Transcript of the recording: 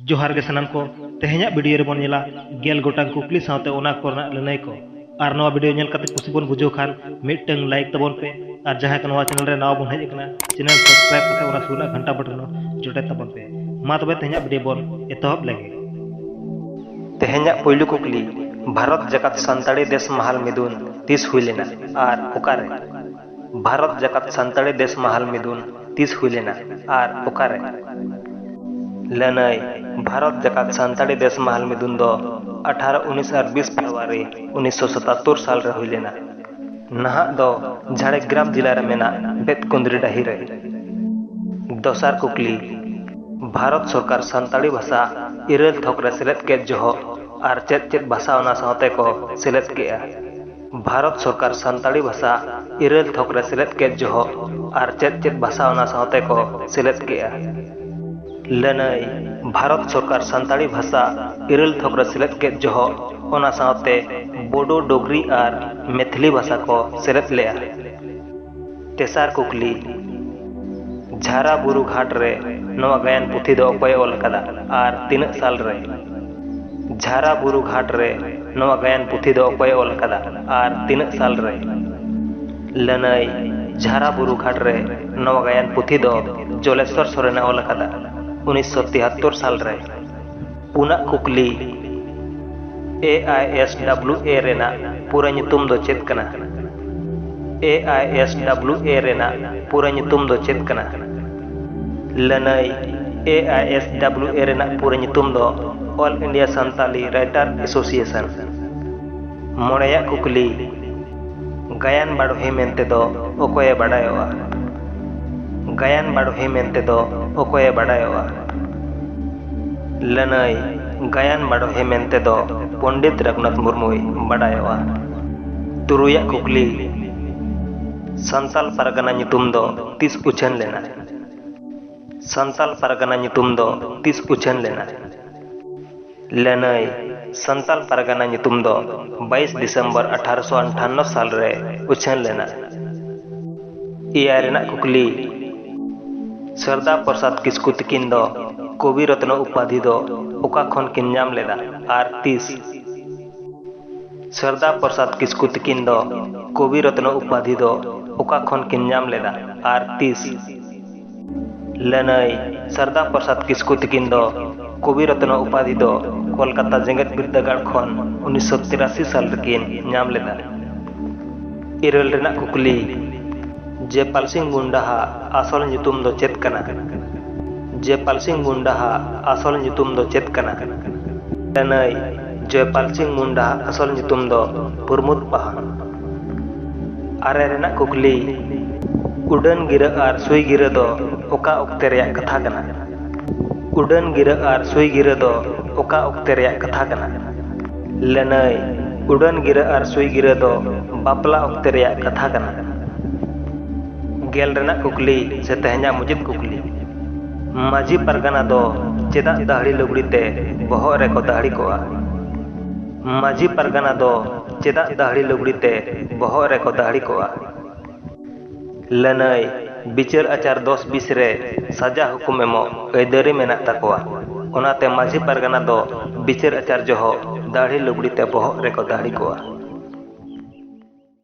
ᱡᱚᱦᱟᱨ ᱜᱮ ᱥᱟᱱᱟᱢ ᱠᱚ ᱛᱮᱦᱮᱧᱟᱜ ᱵᱷᱤᱰᱤᱭᱳ ᱨᱮᱵᱚᱱ ᱧᱮᱞᱟ ᱜᱮᱞ ᱜᱚᱴᱟᱝ ᱠᱩᱠᱞᱤ ᱥᱟᱶᱛᱮ ᱚᱱᱟ ᱠᱚᱨᱮᱱᱟᱜ ᱞᱟᱹᱱᱟᱹᱭ ᱠᱚ ᱟᱨ ᱱᱚᱣᱟ ᱵᱷᱤᱰᱤᱭᱳ ᱧᱮᱞ ᱠᱟᱛᱮ ᱠᱩᱥᱤ ᱵᱚᱱ ᱵᱩᱡᱷᱟᱹᱣ ᱠᱷᱟᱱ ᱢᱤᱫᱴᱟᱝ ᱞᱟᱭᱤᱠ ᱛᱟᱵᱚᱱ ᱯᱮ ᱟᱨ ᱡᱟᱦᱟᱸᱭ ᱠᱚ ᱱᱚᱣᱟ ᱪᱮᱱᱮᱞ ᱨᱮ ᱱᱟᱣᱟ ᱵᱚᱱ ᱦᱮᱡ ᱟᱠᱟᱱᱟ ᱪᱮᱱᱮᱞ ᱥᱟᱵᱥᱠᱨᱟᱭᱤᱵ ᱠᱟᱛᱮ ᱚᱱᱟ ᱥᱩᱨ ᱨᱮᱱᱟᱜ ᱜᱷᱟᱱᱴᱟ ᱵᱚᱴᱚᱱ ᱡᱚᱴᱮᱫ ᱛᱟᱵᱚᱱ ᱯᱮ ᱢᱟ ᱛᱚᱵᱮ ᱛᱮᱦᱮᱧᱟᱜ ᱵᱷᱤᱰᱤᱭᱳ ᱵᱚᱱ ᱮᱛᱚᱦᱚᱵ ᱞᱮᱜᱮ ᱛᱮᱦᱮᱧᱟᱜ ᱯᱩᱭᱞᱩ ᱠᱩᱠᱞᱤ ᱵᱷᱟᱨᱚᱛ ᱡᱟᱠᱟᱛ ᱥᱟᱱᱛᱟᱲᱤ ᱫᱮᱥ ᱢᱟᱦᱟᱞ ᱢᱤᱫᱩᱱ ᱛᱤᱥ ᱦᱩᱭ ᱞᱮᱱᱟ ᱟᱨ ᱚᱠᱟᱨᱮ ᱵᱷᱟᱨᱚᱛ ᱡᱟᱠᱟᱛ ᱥᱟᱱᱛᱟᱲᱤ ᱫᱮᱥ ᱢᱟᱦᱟᱞ ᱢᱤᱫᱩᱱ ᱛᱤᱥ ᱦᱩᱭ ᱞᱮᱱᱟ ᱟᱨ ᱚᱠᱟ ᱨᱮ? ᱞᱟᱹᱱᱟᱹᱭ, ᱵᱷᱟᱨᱚᱛ ᱡᱟᱠᱟᱛ ᱥᱟᱱᱛᱟᱲᱤ ᱫᱮᱥ ᱢᱟᱦᱟᱞ ᱢᱤᱫᱩᱱ ᱫᱚ ᱟᱴᱷᱟᱨᱚ, ᱩᱱᱤᱥ ᱟᱨ ᱵᱤᱥ ᱯᱷᱮᱵᱽᱨᱩᱣᱟᱨᱤ ᱩᱱᱤᱥ ᱥᱚ ᱥᱟᱛᱟᱛᱛᱳᱨ ᱥᱟᱞ ᱨᱮ ᱦᱩᱭ ᱞᱮᱱᱟ᱾ ᱱᱟᱦᱟᱜ ᱫᱚ ᱡᱷᱟᱲᱮᱜᱽᱜᱨᱟᱢ ᱡᱤᱞᱟ ᱨᱮ ᱢᱮᱱᱟᱜ ᱵᱮᱛᱠᱩᱸᱫᱽᱨᱤ ᱰᱟᱹᱦᱤ ᱨᱮ᱾ ᱫᱚᱥᱟᱨ ᱠᱩᱠᱞᱤ, ᱵᱷᱟᱨᱚᱛ ᱥᱚᱨᱠᱟᱨ ᱥᱟᱱᱛᱟᱲᱤ ᱵᱷᱟᱥᱟ ᱤᱨᱟᱹᱞ ᱛᱷᱚᱠ ᱨᱮ ᱥᱮᱞᱮᱫ ᱠᱮᱫ ᱡᱚᱦᱚᱜ ᱟᱨ ᱪᱮᱫ ᱪᱮᱫ ᱵᱷᱟᱥᱟ ᱚᱱᱟ ᱥᱟᱶᱛᱮ ᱠᱚ ᱥᱮᱞᱮᱫ ᱠᱮᱫᱼᱟ? ᱵᱷᱟᱨᱚᱛ ᱥᱚᱨᱠᱟᱨ ᱥᱟᱱᱛᱟᱲᱤ ᱵᱷᱟᱥᱟ ᱤᱨᱟᱹᱞ ᱛᱷᱚᱠ ᱨᱮ ᱥᱮᱞᱮᱫ ᱠᱮᱫ ᱡᱚᱦᱚᱜ ᱟᱨ ᱪᱮᱫ ᱪᱮᱫ ᱵᱷᱟᱥᱟ ᱚᱱᱟ ᱥᱟᱶᱛᱮ ᱠᱚ ᱥᱮᱞᱮᱫ ᱠᱮᱫᱼᱟ ᱞᱟᱹᱱᱟᱹᱭ ᱵᱷᱟᱨᱚᱛ ᱥᱚᱨᱠᱟᱨ ᱥᱟᱱᱛᱟᱲᱤ ᱵᱷᱟᱥᱟ ᱤᱨᱟᱹᱞ ᱛᱷᱚᱠ ᱨᱮ ᱥᱮᱞᱮᱫ ᱠᱮᱫ ᱡᱚᱦᱚᱜ ᱚᱱᱟ ᱥᱟᱶᱛᱮ ᱵᱳᱰᱳ ᱰᱳᱜᱽᱨᱤ ᱟᱨ ᱢᱮᱛᱷᱞᱤ ᱵᱷᱟᱥᱟ ᱠᱚ ᱥᱮᱞᱮᱫ ᱞᱮᱫᱼᱟ ᱛᱮᱥᱟᱨ ᱠᱩᱠᱞᱤ ᱡᱷᱟᱨᱟ ᱵᱩᱨᱩ ᱜᱷᱟᱴ ᱨᱮ ᱱᱚᱣᱟ ᱜᱟᱭᱟᱱ ᱯᱩᱛᱷᱤ ᱫᱚ ᱚᱠᱚᱭ ᱚᱞ ᱟᱠᱟᱫᱟ ᱟᱨ ᱛᱤᱱᱟᱹᱜ ᱥᱟᱞ ᱨᱮ ᱡᱷᱟᱨᱟ ᱵᱩᱨᱩ ᱜᱷᱟᱴ ᱨᱮ ᱱᱚᱣᱟ ᱜᱟᱭᱟᱱ ᱯᱩᱛᱷᱤ ᱫᱚ ᱚᱠᱚᱭ ᱚᱞ ᱟᱠᱟᱫᱟ ᱟᱨ ᱛᱤᱱᱟᱹᱜ ᱥᱟᱞ ᱨᱮ ᱞᱟᱹᱱᱟᱹᱭ ᱡᱷᱟᱨᱟ ᱵᱩᱨᱩ ᱜᱷᱟᱴ ᱨᱮ ᱱᱚᱣᱟ ᱜᱟᱭᱟᱱ ᱯᱩᱛᱷᱤ ᱫᱚ ᱡᱚᱞᱮᱥᱚᱨ ᱥᱚᱨᱮᱱᱮ ᱚᱞ ᱟᱠᱟᱫᱟ ᱩᱱᱤᱥᱥᱚ ᱛᱤᱦᱟᱛᱛᱚᱨ ᱥᱟᱞ ᱨᱮ ᱯᱩᱱᱟᱜ ᱠᱩᱠᱞᱤ A I S W A ᱨᱮᱱᱟᱜ ᱯᱩᱨᱟᱹ ᱧᱩᱛᱩᱢ ᱫᱚ ᱪᱮᱫ ᱠᱟᱱᱟ A I S W A ᱨᱮᱱᱟᱜ ᱯᱩᱨᱟᱹ ᱧᱩᱛᱩᱢ ᱫᱚ ᱪᱮᱫ ᱠᱟᱱᱟ ᱞᱟᱹᱱᱟᱹᱭ A I S W A ᱨᱮᱱᱟᱜ ᱯᱩᱨᱟᱹ ᱧᱩᱛᱩᱢ ᱫᱚ all India Santali writer association ᱢᱚᱬᱮᱭᱟᱜ ᱠᱩᱠᱞᱤ ᱜᱟᱭᱟᱱ ᱵᱟᱰᱚᱦᱤ ᱢᱮᱱᱛᱮ ᱫᱚ ᱚᱠᱚᱭᱮ ᱵᱟᱰᱟᱭᱚᱜᱼᱟ ᱜᱟᱭᱟᱱ ᱵᱟᱰᱚᱦᱤ ᱢᱮᱱᱛᱮ ᱫᱚ ᱚᱠᱚᱭᱮ ᱵᱟᱰᱟᱭᱚᱜᱼᱟ ᱞᱟᱹᱱᱟᱹᱭ ᱜᱟᱭᱟᱱ ᱵᱟᱰᱚᱦᱤ ᱢᱮᱱᱛᱮ ᱫᱚ ᱯᱚᱱᱰᱤᱛ ᱨᱟᱹᱜᱷᱩᱱᱟᱛᱷ ᱢᱩᱨᱢᱩᱭ ᱵᱟᱰᱟᱭᱚᱜᱼᱟ᱾ ᱛᱩᱨᱩᱭ ᱟᱜ ᱠᱩᱠᱞᱤ, ᱥᱟᱱᱛᱟᱞ ᱯᱟᱨᱜᱟᱱᱟ ᱧᱩᱛᱩᱢ ᱫᱚ ᱛᱤᱥ ᱩᱪᱷᱟᱹᱱ ᱞᱮᱱᱟ? ᱥᱟᱱᱛᱟᱞ ᱯᱟᱨᱜᱟᱱᱟ ᱧᱩᱛᱩᱢ ᱫᱚ ᱛᱤᱥ ᱩᱪᱷᱟᱹᱱ ᱞᱮᱱᱟ? ᱞᱟᱹᱱᱟᱹᱭ ᱥᱟᱱᱛᱟᱞ ᱯᱟᱨᱜᱟᱱᱟ ᱧᱩᱛᱩᱢ ᱫᱚ ᱵᱟᱭᱤᱥ ᱰᱤᱥᱮᱢᱵᱚᱨ ᱟᱴᱷᱟᱨᱚᱥᱚ ᱟᱱᱴᱷᱟᱱᱱᱚ ᱥᱟᱞ ᱨᱮ ᱩᱪᱷᱟᱹᱱ ᱞᱮᱱᱟ᱾ ᱮᱭᱟᱭ ᱨᱮᱱᱟᱜ ᱠᱩᱠᱞᱤ ᱥᱟᱨᱫᱟ ᱯᱨᱚᱥᱟᱫᱽ ᱠᱤᱥᱠᱩ ᱛᱤᱠᱤᱱ ᱫᱚ ᱠᱚᱵᱤ ᱨᱚᱛᱱᱚ ᱩᱯᱟᱫᱷᱤ ᱫᱚ ᱚᱠᱟ ᱠᱷᱚᱱ ᱠᱤᱱ ᱧᱟᱢ ᱞᱮᱫᱟ ᱟᱨ ᱛᱤᱥ? ᱥᱟᱨᱫᱟ ᱯᱨᱚᱥᱟᱫᱽ ᱠᱤᱥᱠᱩ ᱛᱤᱠᱤᱱ ᱫᱚ ᱠᱚᱵᱤ ᱨᱚᱛᱱᱚ ᱩᱯᱟᱫᱷᱤ ᱫᱚ ᱚᱠᱟ ᱠᱷᱚᱱ ᱠᱤᱱ ᱧᱟᱢ ᱞᱮᱫᱟ ᱟᱨ ᱛᱤᱥ? ᱞᱟᱹᱱᱟᱹᱭ ᱥᱟᱨᱫᱟ ᱯᱨᱚᱥᱟᱫᱽ ᱠᱤᱥᱠᱩ ᱛᱤᱠᱤᱱ ᱫᱚ ᱠᱚᱵᱤ ᱨᱚᱛᱱᱚ ᱩᱯᱟᱫᱷᱤ ᱫᱚ ᱠᱚᱞᱠᱟᱛᱟ ᱡᱮᱜᱮᱛ ᱵᱤᱨᱫᱟᱹᱜᱟᱲ ᱠᱷᱚᱱ ᱩᱱᱤᱥᱥᱚ ᱛᱤᱨᱟᱥᱤ ᱥᱟᱞ ᱨᱮᱠᱤᱱ ᱧᱟᱢ ᱞᱮᱫᱟ ᱤᱨᱟᱹᱞ ᱨᱮᱱᱟᱜ ᱠᱩᱠᱞᱤ ᱡᱮᱯᱟᱞ ᱥᱤᱝ ᱢᱩᱱᱰᱟᱦᱟᱜ ᱟᱥᱚᱞ ᱧᱩᱛᱩᱢ ᱫᱚ ᱪᱮᱫ ᱠᱟᱱᱟ ᱡᱮᱯᱟᱞ ᱥᱤᱝ ᱢᱩᱱᱰᱟᱦᱟᱜ ᱟᱥᱚᱞ ᱧᱩᱛᱩᱢ ᱫᱚ ᱪᱮᱫ ᱠᱟᱱᱟ ᱞᱟᱹᱱᱟᱹᱭ ᱡᱚᱭᱯᱟᱞ ᱥᱤᱝ ᱢᱩᱱᱰᱟᱦᱟᱜ ᱟᱥᱚᱞ ᱧᱩᱛᱩᱢ ᱫᱚ ᱯᱨᱚᱢᱳᱫᱽ ᱯᱟᱦᱟᱲ ᱟᱨᱮ ᱨᱮᱱᱟᱜ ᱠᱩᱠᱞᱤ ᱩᱰᱟᱹᱱ ᱜᱤᱨᱟᱹ ᱟᱨ ᱥᱩᱭ ᱜᱤᱨᱟᱹ ᱫᱚ ᱚᱠᱟ ᱚᱠᱛᱮ ᱨᱮᱭᱟᱜ ᱠᱟᱛᱷᱟ ᱠᱟᱱᱟ ᱩᱰᱟᱹᱱ ᱜᱤᱨᱟᱹ ᱟᱨ ᱥᱩᱭ ᱜᱤᱨᱟᱹ ᱫᱚ ᱚᱠᱟ ᱚᱠᱛᱮ ᱨᱮᱭᱟᱜ ᱠᱟᱛᱷᱟ ᱠᱟᱱᱟ ᱞᱟᱹᱱᱟᱹᱭ ᱩᱰᱟᱹᱱ ᱜᱤᱨᱟᱹ ᱟᱨ ᱥᱩᱭ ᱜᱤᱨᱟᱹ ᱫᱚ ᱵᱟᱯᱞᱟ ᱚᱠᱛᱮ ᱨᱮᱭᱟᱜ ᱠᱟᱛᱷᱟ ᱠᱟᱱᱟ ᱜᱮᱞ ᱨᱮᱱᱟᱜ ᱠᱩᱠᱞᱤ ᱥᱮ ᱛᱮᱦᱮᱧᱟᱜ ᱢᱩᱪᱟᱹᱫ ᱠᱩᱠᱞᱤ ᱢᱟᱹᱡᱷᱤ ᱯᱟᱨᱜᱟᱱᱟ ᱫᱚ ᱪᱮᱫᱟᱜ ᱫᱟᱹᱦᱲᱤ ᱞᱩᱜᱽᱲᱤ ᱛᱮ ᱵᱚᱦᱚᱜ ᱨᱮᱠᱚ ᱫᱟᱹᱦᱲᱤ ᱠᱚᱜᱼᱟ ᱢᱟᱹᱡᱷᱤ ᱯᱟᱨᱜᱟᱱᱟ ᱫᱚ ᱪᱮᱫᱟᱜ ᱫᱟᱹᱦᱲᱤ ᱞᱩᱜᱽᱲᱤ ᱛᱮ ᱵᱚᱦᱚᱜ ᱨᱮ ᱠᱚ ᱫᱟᱹᱦᱲᱤ ᱠᱚᱜᱼᱟ? ᱞᱟᱹᱱᱟᱹᱭ, ᱵᱤᱪᱟᱹᱨ ᱟᱪᱟᱨ ᱫᱚᱥ ᱵᱤᱥ ᱨᱮ ᱥᱟᱡᱟ ᱦᱩᱠᱩᱢ ᱮᱢᱚᱜ ᱟᱹᱭᱫᱟᱹᱨᱤ ᱢᱮᱱᱟᱜ ᱛᱟᱠᱚᱣᱟ, ᱚᱱᱟᱛᱮ ᱢᱟᱹᱡᱷᱤ ᱯᱟᱨᱜᱟᱱᱟ ᱫᱚ ᱵᱤᱪᱟᱹᱨ ᱟᱪᱟᱨ ᱡᱚᱦᱚᱜ ᱫᱟᱹᱦᱲᱤ ᱞᱩᱜᱽᱲᱤ ᱛᱮ ᱵᱚᱦᱚᱜ ᱨᱮ ᱠᱚ ᱫᱟᱹᱦᱲᱤ ᱠᱚᱜᱼᱟ᱾